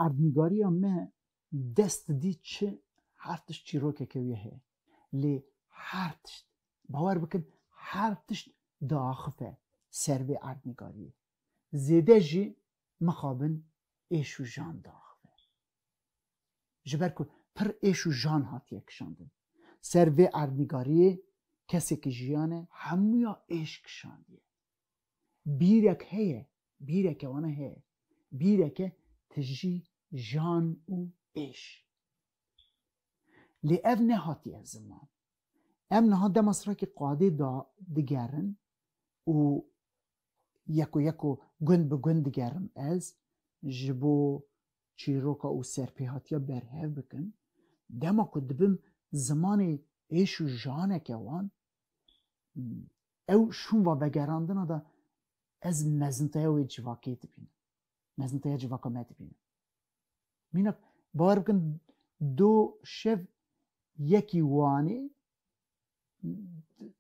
Erdnîgariya me dest didî çi her tişt çîrokeke wî heye. Lê her tişt, bawer bikin her tişt diaxife ser vê erdnîgariyê. Zêde jî mixabin êş û jan diaxife. Ji ber ku pir êş û jan hatiye kişandin. Ser vê erdnîgariyê kesekî jiyane hemûya êş kişandiye. bîrek heye, bîreke wana heye, bîreke tijî jan û êş. Lê ev nehatiye ziman. Em niha dema Sirakî Qadê da digerin û yeko yeko gund bi gund digerim ez ji bo çîroka û serpêhatiya berhev bikim, dema ku dibim zimanê êş û janeke wan, Ew şûnva vegerandina de ez mezinteya wê civakê dibînim, mezinteya civaka me dibînim. Mîna bawer bikin do şev yekî wanê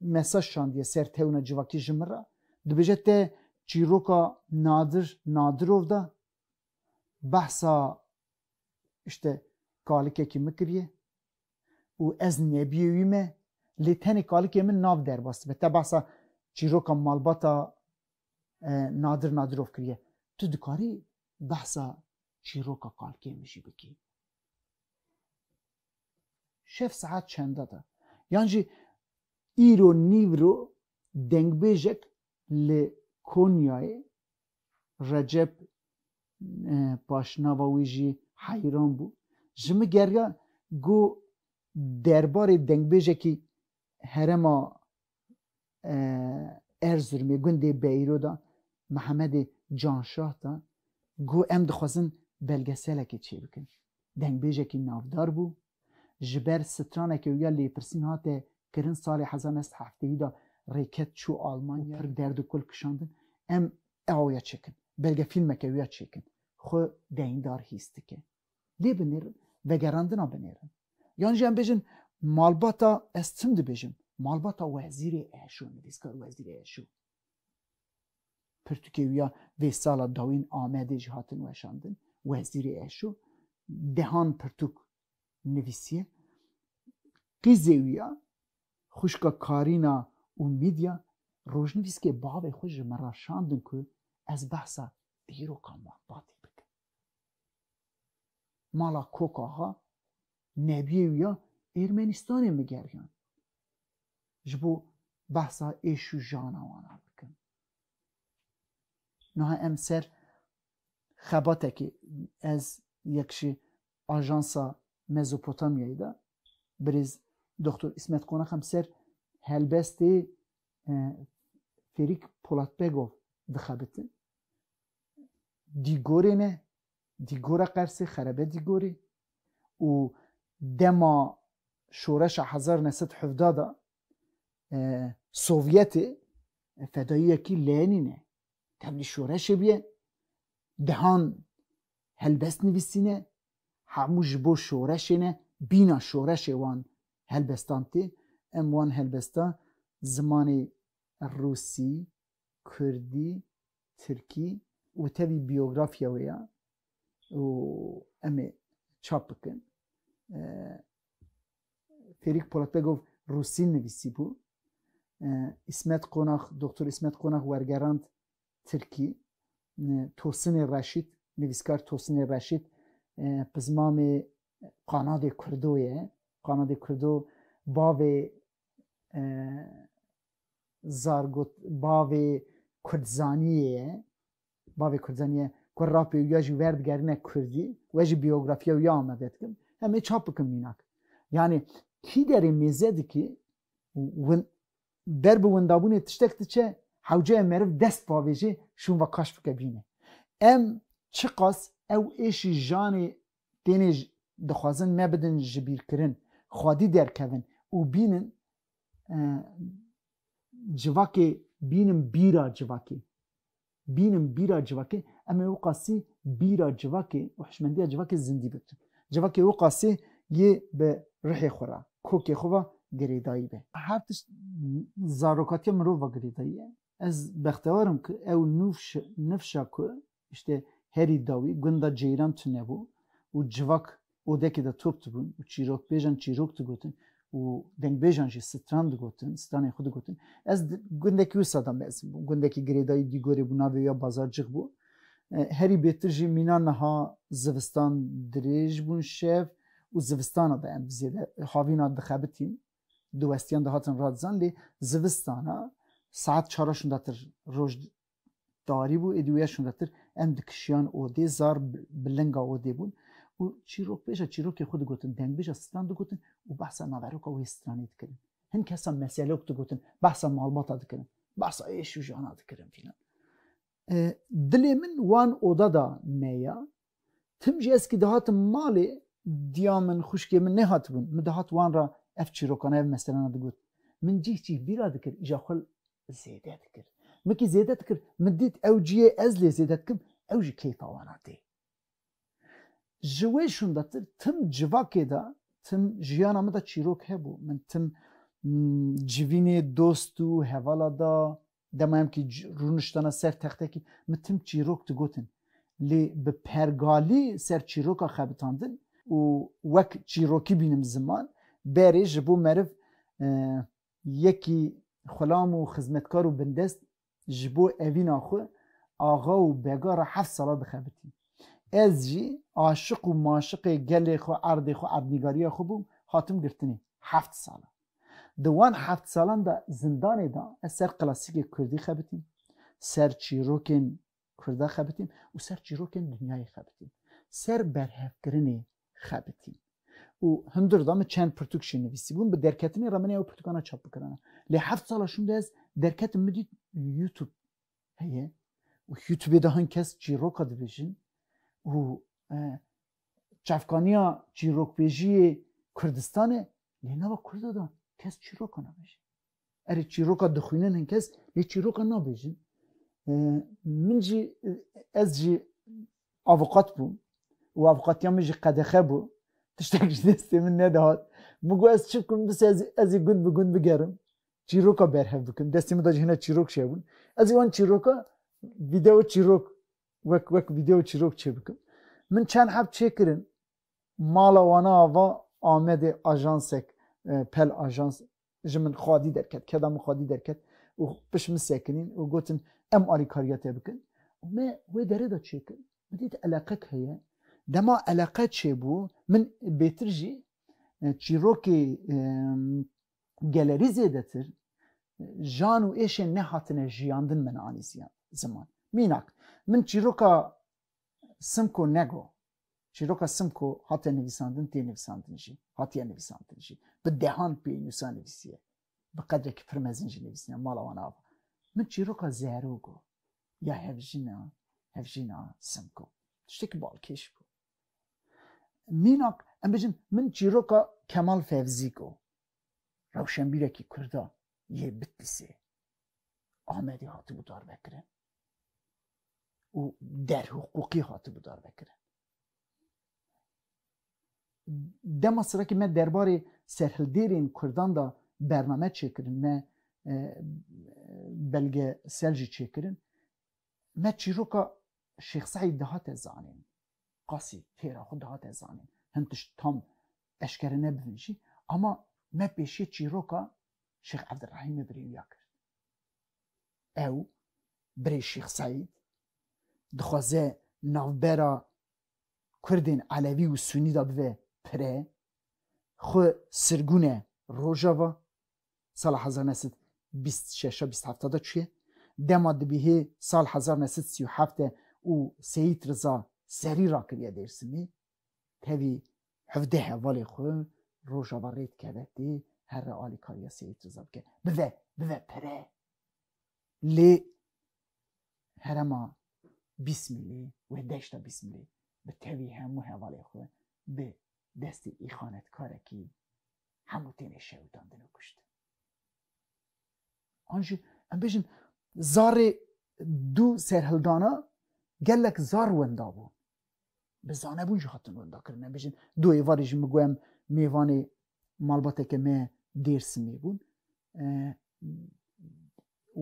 mesaj şandiye ser tewna civakî ji min re dibêje te çîroka Nadir Nadirov de behsa işte kalikekî min kiriye û ez nebîyê wî me, lê tenê kalikê min nav derbas dibe. Te behsa çîroka malbata Nadir Nadirov kiriye. Tu dikarî behsa çîroka kalikê min jî bikî. Şev saet çenda da. Yan jî îro nîvro dengbêjek li Konyayê Recep paşnava wî jî heyran bû. Ji min geriya ku derbarê dengbêjekî herêma Erzirumê gundê Beyro de Mihemedê Canşah de ku em dixwazin belgeselekê çêbikin. Dengbêjekî navdar bû. ji ber straneke wî ya lêpirsîn hate kirin salê hezar neh sed hefteyî da rêket çû Almanya pir derd û kul kişandin em ew ya çêkin belge fîlmeke wî ya çêkin xwe deyndar hîs dike lê bi nêr vegerandina bi nêrin yan jî em bêjin malbata ez tim dibêjim malbata wezîrê eşo nivîskar wezîrê eşo. Pirtûkê wî ya vê sala dawîn Amedê jî hatin weşandin. Wezîrê Eşo dehan pirtûk nivîsiye. Qîzê wî ya xwişka Karîna û Mîdya rojnivîskê bavê xwe ji min re şandin ku ez behsa dîroka malbatê bikim. Mala Kokaxa Nebiyê wî ya Ermenistanê min geriyand ji bo behsa êş û jana wan a bikim. Niha em ser xebatekê ez yek ji Ajansa Mezopotamyayê de birêz Doktor Îsmet Qonak em ser helbestê Ferik Polatbegov dixebitin. Dîgorê me Dîgora Qersê xerebe dîgorê û dema şoreşa hezar û neh sed û hevdeh de Sovyetê fedayiyekî Lenîn e, tevlî şoreşê bûye, dehan helbest nivîsîne, hemû ji bo şoreşê ne, bîna şoreşê wan helbestan tê, em wan helbestan zimanê rûsî, kurdî, tirkî û tevî biyografya wê ya û em ê çap bikin. Fêrîk Polatbegov rûsî nivîsî bû. İsmet Qonax, Doktor İsmet Qonax wergerand tirkî. Tosinê Reşît, nivîskar Tosinê Reşît pizmamê qanadê kurdo ye. Qanadê kurdo bavê zargot bavê kurdzaniyê ye bavê kurdzaniyê ku rapê ya jî werdigerine kurdî we jî biyografiya ya amade dikim em ê çap bikim mînak yanî kî derê mêze dikî ber bi windabûnê tiştek diçe hewceye meriv dest pavêjê şûn ve kaş bike bîne em çiqas ew êşî janê Tenê dixwazin nebidin jibîrkirin, xwedî derkevin û bînin civakê, bînin bîra civakê. Bînin bîra civakê, em ê wiqasî bîra civakê û hişmendiya civakê zindî bikin. Civakê wiqasî yê bi rihê xwe re, kokê xwe ve girêdayî be. Her tişt zarokatiya mirov ve girêdayî ye. Ez bextewar im ku ew nûfşa ku Îşte herî dawî gunda Ceyran tune bû û civak odekê de top dibûn û çîrokbêjan çîrok digotin û dengbêjan jî stran digotin, stranên xwe digotin. Ez gundekî wisa de mezin bûm. Gundekî girêdayî Dîgorê bû, navê wê ya Bazarcix bû. Herî bêtir jî mîna niha zivistan dirêj bûn şev û zivistana de em bi zêde havîna dixebitîn. Diwestiyan dihatin radizan lê zivistana saet çar a şindatir roj tarî bû êdî wêya şûnretir em dikişiyan odê zar bi linga odê bûn û çîrok pêşa çîrokê xwe digotin dengbêja stran digotin û behsa naveroka wê stranê dikirin hin kesa meselok digotin behsa malbata dikirin behsa êş û jana dikirin fîlan dilê min wan oda da me ya Tim jî ez kî dihatim malê diya min, xwişkê min nêhatibûn. Min dihat wan re ev çîrokana, ev meselana digot. Min cih cih bîra dikir îja xwe zêde dikir. Min kî zêde dikir, min dît ew ciyê ez lê zêde dikim, ew jî keyfa wan a tê. Ji wê şûndetir tim civakê de, tim jiyana min de çîrok hebû. Min tim civînê dost û hevala da Dema em kî rûniştana ser textekî min tim çîrok digotin. Lê bi pergalî ser çîroka xebitandin û wek çîrokî bînim ziman, berê ji bo meriv yekî xulam û xizmetkar û bindest ji bo evîna xwe axa û bega re heft sala dixebitî. Ez jî aşiq û maşiqê gelê xwe, erdê xwe, erdnîgariya xwe bûm, hatim girtinê. Heft sala. Di wan heft salan de zindanê de ez ser klasîkê kurdî xebitîm, ser çîrokên kurda xebitîm û ser çîrokên dinyayê xebitîm. Ser berhevkirinê xebitîm. Û hundir de min çend pirtûk jî nivîsîbûn. Bi derketinê re min ê ew pirtûkana çap bikirina. Lê heft sala şûn de ez derketim min dît YouTube heye û YouTubeê de hin kes çîroka dibêjin û çavkaniya çîrokbêjiyê Kurdistan e, lê nava Kurda de kes çîroka nabêje. Erê çîroka dixwînin hin kes lê çîroka nabêjin. Min jî ez jî avukat bûm û avukatiya min jî qedexe bû. Tiştek ji destê min nedihat. Min got ez çi bikim bis ez ez ê gund bi gund bigerim. Çîroka berhev bikim. Destê min de jî hene çîrok çêbûn. Ez ê wan çîroka video çîrok wek wek video çîrok çêbikim. Min çend heb çêkirin mala wana ava Amedê ajansek pel ajans ji min xwedî derket keda min xwedî derket û piş min sekinîn û gotin em alîkariya te bikin û me wê derê de çêkir min dît eleqek heye dema eleqe çêbû min bêtir jî çîrokê gelerî zêdetir jan û êşên nehatine jiyandin min anî ziman. Mînak, min çîroka Simko nego, çîroka Simko hate nivîsandin tê nivîsandin jî, hatiye nivîsandin jî, bi dehan pênûsa nivîsiye, bi qedrekî pir mezin jî nivîsine, mala wan ava. Min çîroka Zerûgo ya hevjina, hevjina Simko. Tiştekî balkêş bû. Mînak em bijin min çîroka Kemal Fevzîk o. Rewşenbîrekî Kurda yê Bitlîsê. Amedê hatibû darvekirin. û derhiqûqî hatibû darvekirin. Dema sirekî me derbarê serhildêrên Kurdan de bername çêkirin, me e, belge sel jî çêkirin. me çîroka Şêx Seîd dihate zanîn, qasî têra xwe dihate zanîn, hin tişt tam eşkere nebibin jî, ama me pêşiyê çîroka Şêx Evdirehîmê birê wiya kir. Ew, birê Şêx Seîd, dixwaze navbera Kurdên Elevî û Sunî de bibe pire, xwe sirgûne Rojava, sala hezar neh sed bîst şeş bîst hefta de çûye. Dema dibîhê sal hezar neh sed sî û heft e û Seyîd Riza serî rakiriye Dêrsimê, tevî hevdeh hevalê xwe Rojava rê dikeve tê her re alîkariya Seyîd Riza bike. Bive, bive pere. Lê herema Bîsmîlê wê deşta Bîsmîlê bi tevî hemû hevalê xwe bi destê îxanetkarekî hemû têne şewitandin û kuştin. An jî em bêjin zarê dû serhildana gelek zar wenda bû. Bi zanebûn jî hatin wenda kirin em bêjin dû êvarê jî min guhem mêvanê malbateke me Dêrsimê bûn.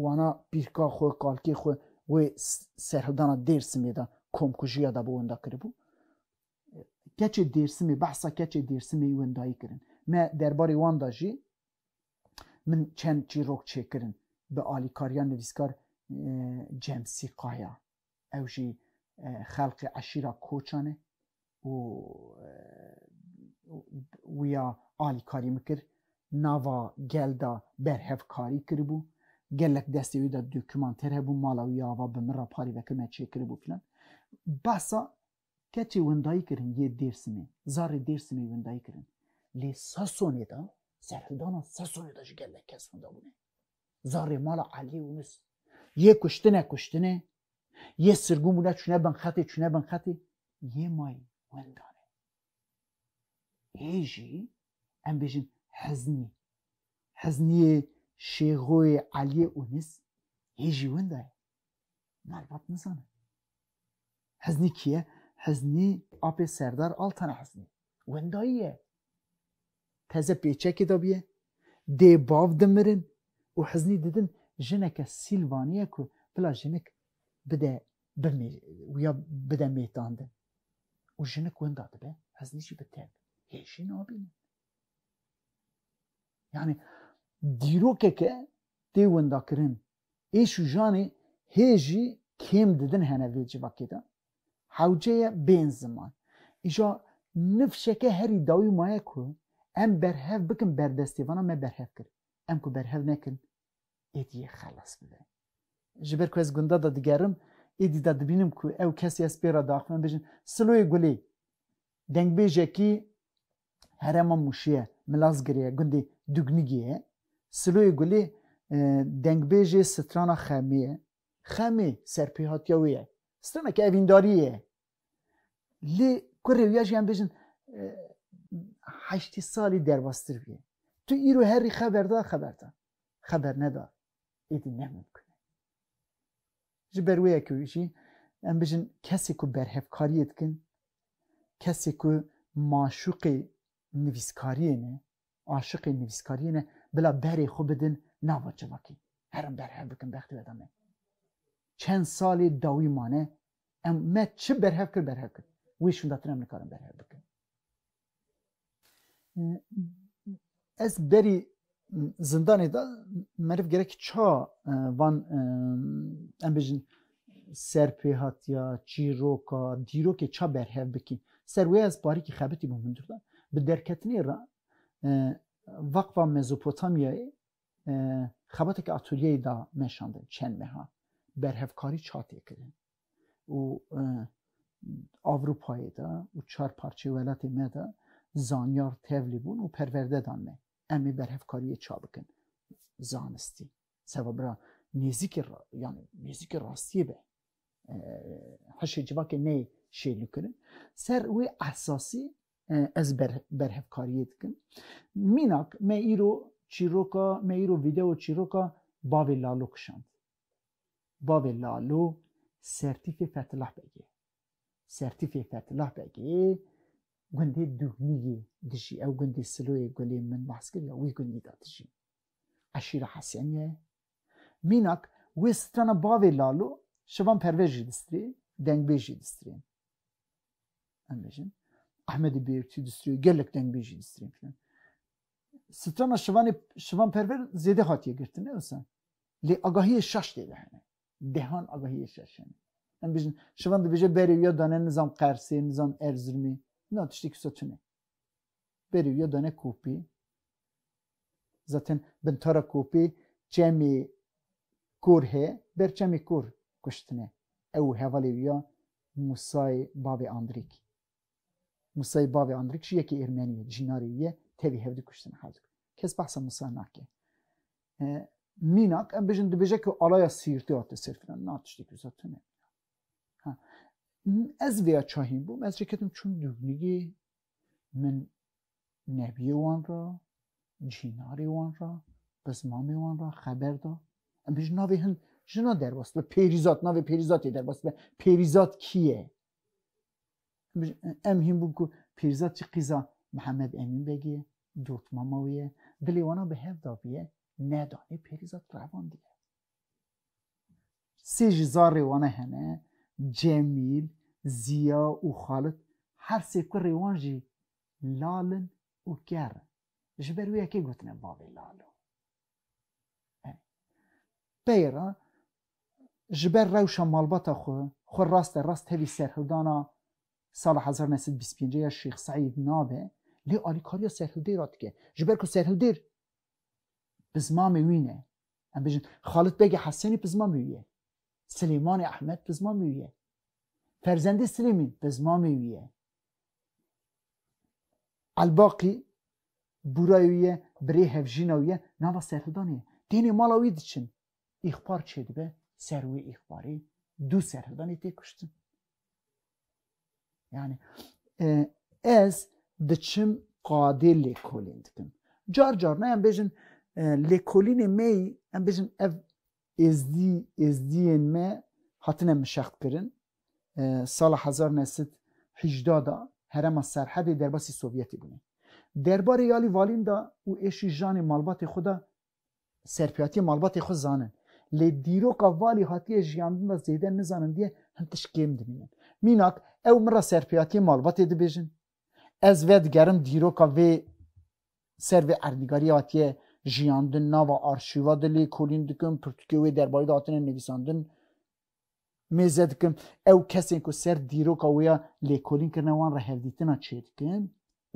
Wana pîrka xwe kalkê xwe wê serhildana Dêrsimê de komkujiya da bû wenda kiribû. keçê Dêrsimê behsa keçê Dêrsimê yû wendayî kirin. Me derbarê wan de jî min çend çîrok çêkirin bi alîkariya nivîskar Cemsî Kaya. Ew jî xelqê eşîra Koçan e û wîya alîkarî min kir. Nava gel de berhevkarî kiribû. Gelek destê wî de dokûmanter hebû, mala wî ya ava bi min re parî veke me çêkiribû filan. Behsa Keçê windayî kirin yê Dêrsimê, zarê Dêrsimê windayî kirin. Lê Sasonê de, serhildana Sasonê de ji gelek kes winda bûne. Zarê mala Eliyê Yûnus yê kuştine kuştine, yê sirgûn bûne çûne bin xetê çûne bin xetê, yê may winda ne. Yê jî em bêjin Heznî. Heznîyê Şêxoyê Eliyê Yûnus yê jî winda ye. Malbat nizane. Heznî kî ye? Heznî apê Serdar Altan Heznî. Wendayî ye. Teze pêçekê de bûye. Dê bav dimirin û Heznî didin jineke Sîlvanî ye ku bila jinik bide bimê wîya bide mêtandin. Û jinik wenda dibe Heznî jî bi tep. Hê jî nabînin. Yani dîrokeke tê wendakirin Êş û janê hê jî kêm didin hene vê civakê de. Hewce ye bên ziman. Îja nifşeke herî dawî maye ku em berhev bikin berdestê vana me berhev kir. Em ku berhev nekin êdî yê xelas bibe. Ji ber ku ez gunda de digerim êdî de dibînim ku ew kesê ez pê re diaxivim em bêjin Siloyê Gulê, dengbêjekî Herêma Mûşiyê, Milazgirê, gundê Dugnigiyê, Siloyê Gulê, Dengbêjê Strana Xemiyê, Xemê serpêhatiya wê ye. Straneke evîndariyê ye. Lê ku rêwiya jî em bêjin heştê salî derbastir bûye. Tu îro herî xeber da, xeber da. Xeber neda, êdî ne mimkun e. Ji ber wê ye ku jî em bijin kesê ku berhevkariyê dikin, kesê ku maşûqê nivîskariyê ne, aşiqê nivîskariyê ne bila berê xwe bidin nava civakê. Her em berhev bikin bextê we de me. Çend salê dawî mane em me çi berhev kir berhev kir. Wê şûndatin em nikarin berhev bikin. Ez berî zindanê de meriv gerek ça van em bêjin serpêhatiya çîroka dîrokê ça berhev bikî. Ser wê ez parîkî xebitî bûm hundir de. Bi derketinê re Vakfa Mezopotamyayê xebateke atulyeyê da meşandin çend meha berhevkarî ça tê kirin. û Avrupayê de û çar parçê welatê me de zanyar tevlî bûn û perwerde dan me. Em ê berhevkariyê ça bikin. Zanistî. Seba bira nêzîkê yani nêzîkê rastiyê be. Hişê civakê neyê şêlûkirin. Ser wê esasî ez ber berhevkariyê dikim. Mînak me îro çîroka me îro video çîroka bavê Lalo kişand. Bavê Lalo Sertîfê Fethilah Beg e. Sertîfê Fethilah Beg ê gundê Dûgnî yê dijî. Ew gundê Siloyê Gulê min behs kir ya wî gundî de dijî. Eşîra Hesenî ye. Mînak wê strana bavê Lalo Şevan Pervez jî distrê, dengbêj jî distrê. Em bêjin Ehmedê Bêrtî distrê, gelek dengbêj jî distrê filan. strana şivanê şivan perver zêde hatiye girtin ne wisa. Lê agahiyê şaş tê de hene. Dehan agahiyê şaş hene. Em bijin şivan dibêje berê wî ya dane nizam Qersê, nizam Erzirmê. Na tiştê kisa tune. Berê wî ya dane kopê. Zaten bintara kopê çemê kor he, ber çemê kor kuştine. Ew hevalê wî ya Musayê bavê Andrêk. Musayê bavê Andrik jî yekê Ermenî ye, dijî narê wî ye, tevî hev di kuştin hal dikin. Kes behsa Musa nake. Mînak em bijin dibêje ku alaya Sîrtê hate ser filan na tiştê ku zat tune. Ez vêya çahîn bûm, ez çeketim çûm dûbnigê min nebiyê wan ra, cînarê wan ra, qizmamê wan ra xeber da. Em bijin navê hin jina derbas be, pêrîzat navê pêrîzatê derbas be. Pêrîzat kî ye? Em hîn bûn ku Pîrzad jî qîza Mihemed Emîn Begî ye, dotmama wî ye, dilê wan a bi hev dabîye, nedanê Pîrzad revandiye. Sê ji zarrê wan a hene, Cemîl, Zîya û Xalit, her sê kurrê wan jî lal in û ker in. Ji ber wê ye kê gotine bavê lal o. Peyra ji ber rewşa malbata xwe xwe raste rast tevî serhildana sala hezar neh sed bîst pêncî ya Şêx Seîd nabe lê alîkariya serhildêra dike. Ji ber ku serhildêr pizmamê wî ne. Em bijin Xalit Begê Hesenî pizmamê wî ye. Silêmanê Ehmed pizmamê wî ye. Ferzendê Silêmîn pizmamê wî ye. Elbaqî bûrayê wî ye, birê hevjîna wî ye, nava serhildanê ye. Tênê mala wî diçin, îxbar çêdibe, ser wê îxbarê du serhildanê tê kuştin. Yani ez diçim qadê lêkolîn dikim. Car car ne em bêjin lêkolînê me yî em bêjin ev Êzdî, Êzdiyên me hatine mişextkirin. Sala hezar u neh sed û hîjda de Herêma Serhedê derbasî Sovyetê bûne. Derbarê Yalî Valîn de û êşî janê malbatê xwe de serpêhatiyê malbatê xwe zanin. Lê dîroka Valî hatiye jiyandin de zêde nizanindiye hin tişt kêm dimînin. Mînak, ew min re serpêhatiyê malbatê dibêjin, Ez vedigerim dîroka vê ser vê erdnîgariyê hatiye jiyandin nava arşîva de lê kolîn dikim, pirtûkê wê derbarî de hatine nivîsandin mêze dikim. Ew kesên ku ser dîroka wê ya lêkolîn kirine wan re hevdîtina çêdikim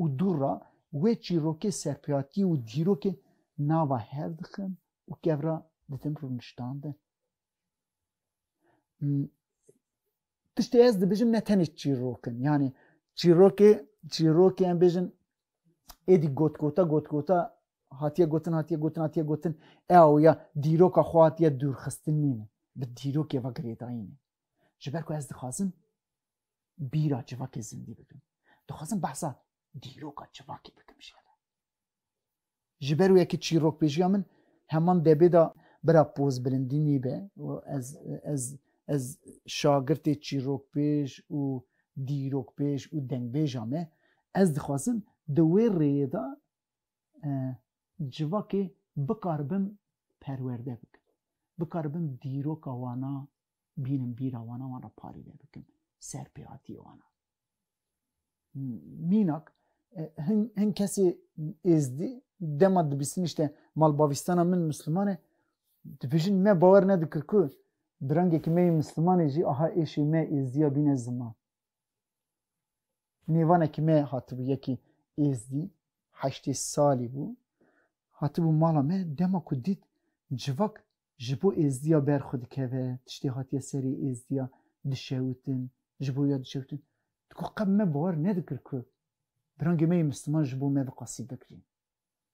û dûr ra wê çîrokê serpêhatiyê û dîrokê nava hev dixim û kev ra didim rûniştandin. tiştê ez dibêjim ne tenê çîrokin yanî çîrokê çîrokê em bêjin êdî gotkota gotkota hatiye gotin hatiye gotin hatiye gotin e awya dîroka xwe hatiye dûrxistin nîne bi dîrokê ve girêdayîne ji ber ku ez dixwazim bîra civakê zindî bikim dixwazim behsa dîroka civakê bikim jê Ji ber wê ki çîrokbêjiya min heman debê de bira poz bilindî nîbe û ez ez ez şagirtê çîrokbêj û dîrokbêj û dengbêja me ez dixwazim di wê rêyê de civakê bikaribim perwerde bikim. Bikaribim dîroka wana bînim bîra wana wan re parîne bikim, serpêhatiyê wana. mînak hin hin kesê êzdî dema dibîstin işte malbavîstana min Müslüman e dibêjin me bawer nedikir ku bi rengekî me yê Müslümanê jî aha êşê me êzdiya bîne ziman. Nêvanekî me hatibû yekî êzdî heştê salî bû hatibû mala me dema ku dît civak ji bo êzdiya ber xwe dikeve, tiştê hatiye serê êzdiya dişewitin, ji bo ya dişewitin. Digo qe me bawer nedikir ku birangê me yê misliman ji bo me viqasî bigrîn,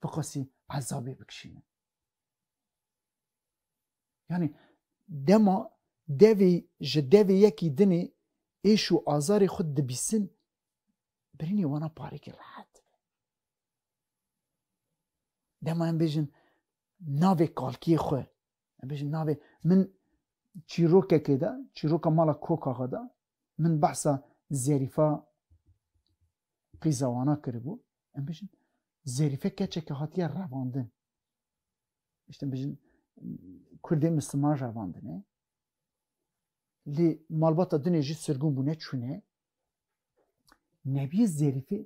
viqasî ezabê bikişînin. Yanî dema devê ji devê yekî dinê êş û azarê xwe dibîsin, birînê wana parekî rehet dibe. Dema em bêjin navê kalkiyê xwe em bêjin navê min çîrokekê de çîroka mala kokaxa de min behsa zerîfa qîzawana kiribû em bêjin zerîfe keçeke hatiye revandin işte bêjin kurdê misliman revandine lê malbata dinê jî sirgûn bûne çûne nebiyê zerîfê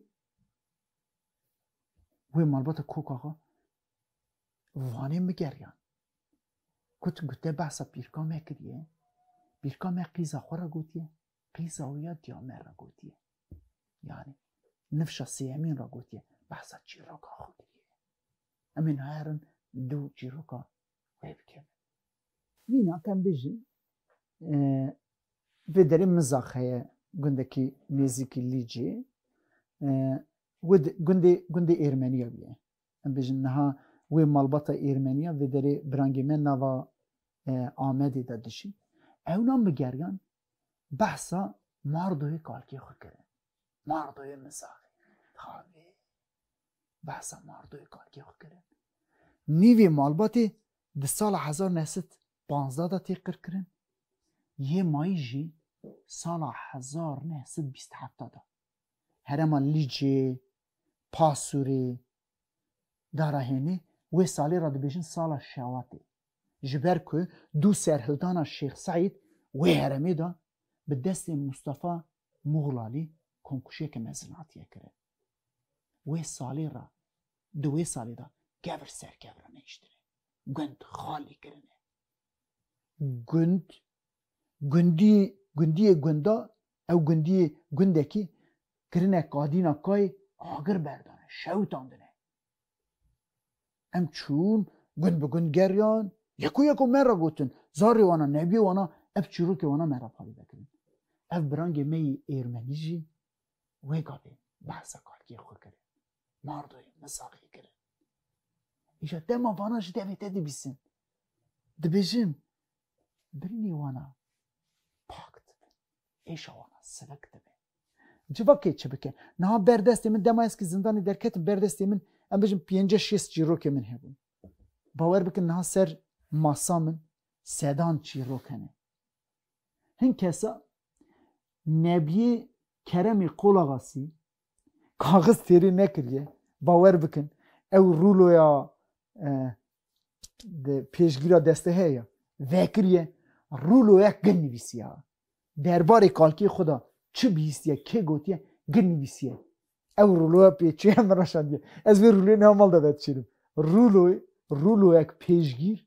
wê malbata kokaxa Vanê mi geriyan. Ku tu gute behsa pîrka me kiriye, pîrka me qîza xwe re gotiye, qîza wî ya diya me re gotiye. Yani nifşa sêyemîn re gotiye, behsa çîroka xwe kiriye. Em ê naherin du çîroka wê bikevin. Mîna ke em bêjin vê derê Mizax heye gundekî nêzîkî Lîcê. Wê gundê gundê Êrmeniya bîye. Em bêjin niha wê malbata Êrmeniya vê derê birangê me nava Amedê de dijî. Ewnan bi geryan behsa Mardoyê kalkê xwe kirin. Mardoyê Misaxê. Tavê. Behsa Mardoyê kalkê xwe kirin. Nîvê malbatê di sala hezar neh sed panzdeh de tê qir kirin. Yê mayî jî sala hezar neh sed bîst heft de. Herema Lîcê, Pasûrê, Dara Hênê wê salê re dibêjin sala Şewatê ji ber ku du serhildana Şêx Seîd wê heremê de bi destê Mustafa Muxlalî komkuşiyeke mezin hatiye kirin. Wê salê re di wê salê de kevir ser kevir nehiştine, gund xalî kirine. Gund, gundî, gundiyê gunda Ew gundiyê gundekî kirine kadîna kayê agir berdane, şewitandine. Em çûn, gund bi gund geriyan, yek û yeko me re gotin, zarê wan a, nebiyê wan a, ev çîrokê wan a me re parêze kirin. Ev birangê me yê êrmenî jî wê gavê behsa kalkiyê xwe kirin, mardoyê misaxê kirin. Îja dema vana ji devê te dibîsin. Dibêjin, birînê wan a pak dibe, êşa wan a sivik dibe. Civakê çi bike? Niha berdestê min dema ez ki zindanê derketim berdestê min em bijim pênceh şêst çîrokê min hebûn. Bawer bikin niha ser masa min sedan çîrok hene. Hin kesa Nebiyê Keremê Qolaxasî kaxiz têrê nekiriye bawer bikin ew rûloya di pêşgîra deste heye vekiriye rûloya gin nivîsiya derbarê kalkê xwe da çi bihîstiye kê gotiye gin nivîsiye ew rûloya pêçiye min re şandiye ez vê rûlê niha mal de vedişêrim rûlo rûloyek pêşgîr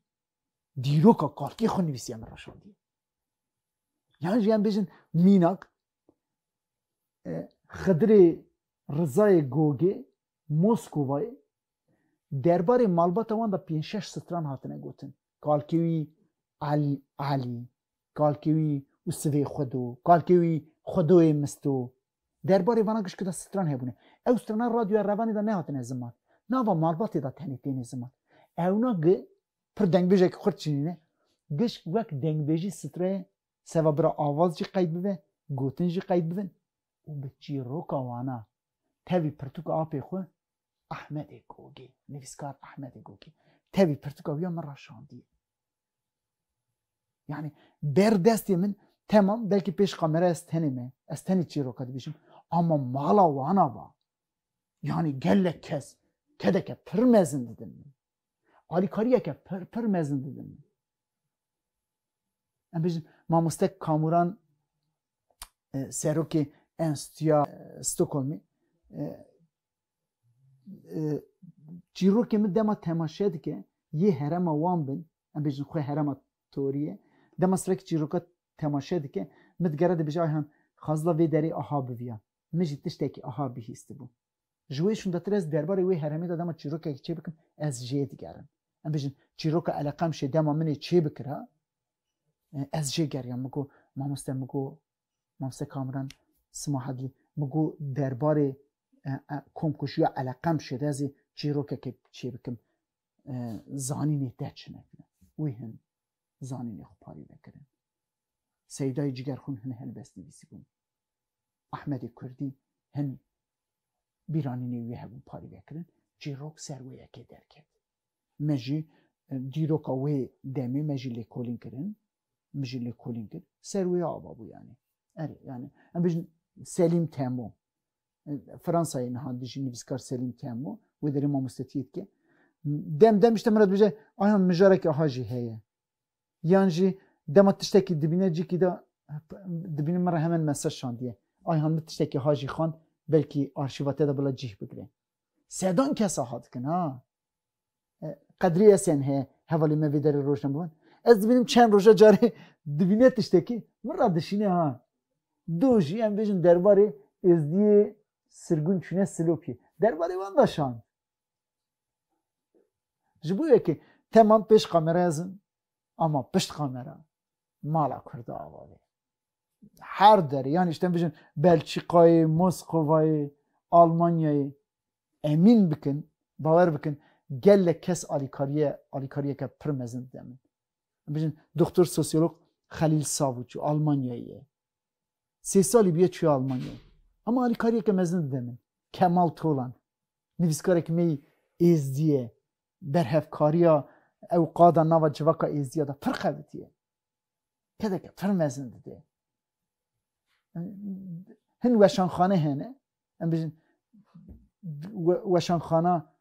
dîroka kalkê xwe nivîsiye min re şandiye yan jî em bêjin mînak Xidrê Rizayê Gogê Moskovayê derbarê malbata wan de pênc şeş stran hatine gotin. Kalkê wî Elî, Elî, kalkê wî û sivê Xwedo, kalkê wî Xwedoyê Misto. Derbarê vana gişkî de stran hebûne. Ew strana radyoya Revanê de nehatine ziman. Nava malbatê de tenê têne ziman. Ewna gi pir dengbêjekî xurt çinîne, gişk wek dengbêjî strayê Seba bira avaz jî qeyd bibe, gotin jî qeyd bibin û bi çîroka wana tevî pirtûka apê xwe Ahmedê Gogê, nivîskar Ahmedê Gogê tevî pirtûka wî ya min ra şandiye. Yanî ber destê min temam belkî pêş kamera ez tenê me, ez tenê çîroka dibîşim ama mala wana va. Yanî gelek kes kedeke pir mezin didin min. Alîkariyeke pir pir mezin didin min. Em bêjin mamoste Kamuran e, serokê Enstitûya e, Stockholmê e, çîrokê min dema temaşe dike yê herema wan bin em bêjin xwe herema toriye dema sirekî çîroka temaşe dike min digere dibêje ayhan xazla vê derê aha biviya min jî tiştekî aha bihîstibû Ji wê şûndetir ez derbarê wê heremê de dema çîrokekî çêbikim ez jê digerim. Em bêjin çîroka Eleqemşê dema min ê çêbikira ez jê geriyam. Min got mamoste min got mamoste Kamran Sima Hedlî min got derbarê komkujiya Eleqemşê de ez ê çîrokekê çêbikim zanînê te çine kine. Wî hin zanînê xwe parî vekirin. Seydayê cigerxûn hin helbestnivîsî bûn. Ahmedê Kurdî hin bîranînê wî hebû parêvekirin, çîrok ser wê yekê derket. Me jî dîroka wê demê me jî lêkolîn kirin, min jî lêkolîn kir, ser wê ava bû yanî. Erê yanî em bijin Selîm Temo. Fransayê niha dijî nivîskar Selîm Temo, wê derê mamostetiyê dike. Dem dem işte min re dibêje, ayan mijareke aha jî heye. Yan jî dema tiştekî dibîne cîkî de dibîne min re hemen mesaj şandiye. Ayhan min tiştekî ha jî xwend belkî arşîva te de bila cîh bigire. Sedan kes aha dikin ha. E, Qedrî Esen heye hevalê me vê derê rojna biwan. Ez dibînim çend roja carê dibîne tiştekî min re dişîne ha. Do jî em bêjin derbarê êzdiyê sirgûn çûne Silopiyê. Derbarê wan da şand. Ji bo yekê temam pêş kameraya zin ama pişt kamera mala Kurda avavê. Her derê yan îşten bijin Belçîkayê, Moskovayê, Almanyayê emîn bikin, bawer bikin gelek kes alîkariye alîkariyeke pir mezin dide min. Bijin doktor sosyolog Xelîl Savûçû Almanyayê ye. Sê salî bûye çûye Almanyayê. Ama alîkariyeke mezin dide min. Kemal Tolan Nivîskarek mey Êzdî ye. Berhevkariya ew qada nava civaka Êzdîya de pir qewitî ye. Kedeke pir mezin dide. Hin weşanxane hene. Em bijin weşanxana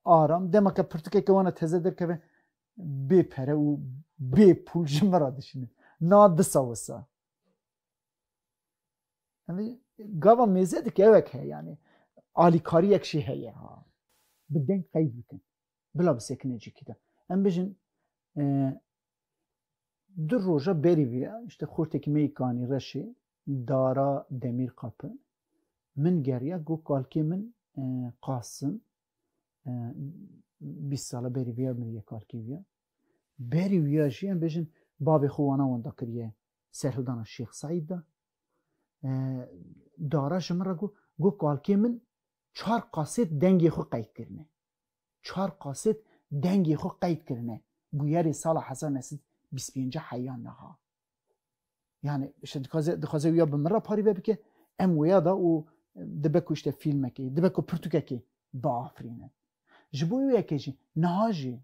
aram. Dema ke pirtûkeke wana teze derkeve bê pere û bê pûl ji min re dişîne. Na disa wisa. Yanî gava mêze dikevek he yanî alîkariyek jî heye ha. Bi deng qeyd bikin. Bila bisekine cikî de. Em bijin du roja berî vî ya işte xortekî me yê kanî reşê dara demîr qapi min geriya go kalkê min qasim bîst sala berî vî ya min yê kalkê vî ya berî vî ya jî em bijin bavê xwe wana wenda kiriye serhildana Şêx Seîd de dara ji min re got got kalkê min çar qasêt dengê xwe qeyd kirine. Çar qasêt dengê xwe qeyd kirine bûyerê sala hezar neh sed bîst pênc heya niha. Yani işte dixwaze dixwaze wîya bi min re parî vebike em wêya da û dibe ku işte fîlmekê dibe ku pirtûkekê biafirînin. Ji bo wê yekê jî niha jî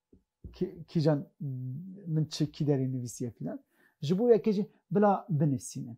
kîjan min çi kî derê nivîsiye fîlan ji bo yekê jî bila binivîsînin.